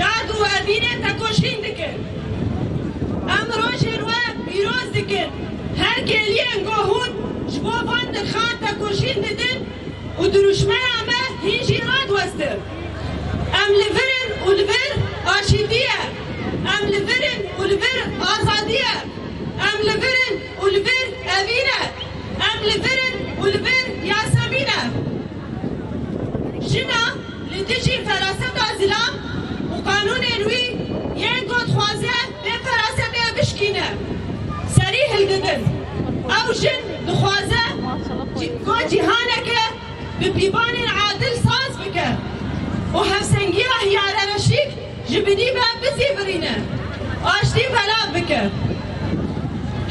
Dad û evînê tekoşîn dikin. Em rojên we pîroz dikin. Her kêliyên ku hûn ji bo van dirxan tekoşîn didin û dirûşmeya me hîn jî radiwestin. Em li vir in û li vir aşîtî ye. Em li vir in û li vir azadî ye. Em li vir in û li vir evîn e. Em li vir in û li vir Yasemîn e. Jina li dijî feraseta zilam û qanûnên wî yên ku dixwaze vê ferasetê bişkîne serî hildidin. Ew jin dixwaze ku cîhaneke bi pîvanên adil saz bike û hevsengiya hiyarereşîk ji binî ve bizîvirîne, aştî belav bike.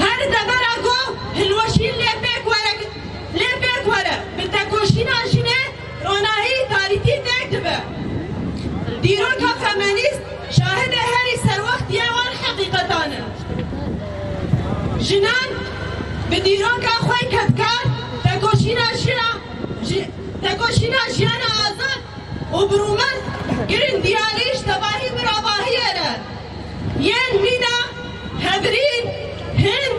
Her devera ku hilweşîn lê pêk were. Lê pêk were bi tekoşîna jinê ronahî tarîtî têk dibe. Dîroka femenîst şahidê herî serwextî ya wan heqîqetan in. Jinan bi dîroka xwe kedkar tekoşîna jina tekoşîna jiyana azad û bi rûmez girîng diyarî ji tevahî bi ravahiyê re yên mîna Hevrîn, Hind,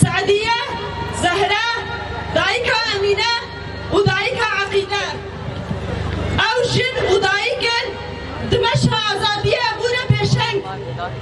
Se'dîye, Zehre, dayika Emîne û dayika Eqîde. Ew jin û dayikên di meşa azadiyê bûne pêşeng.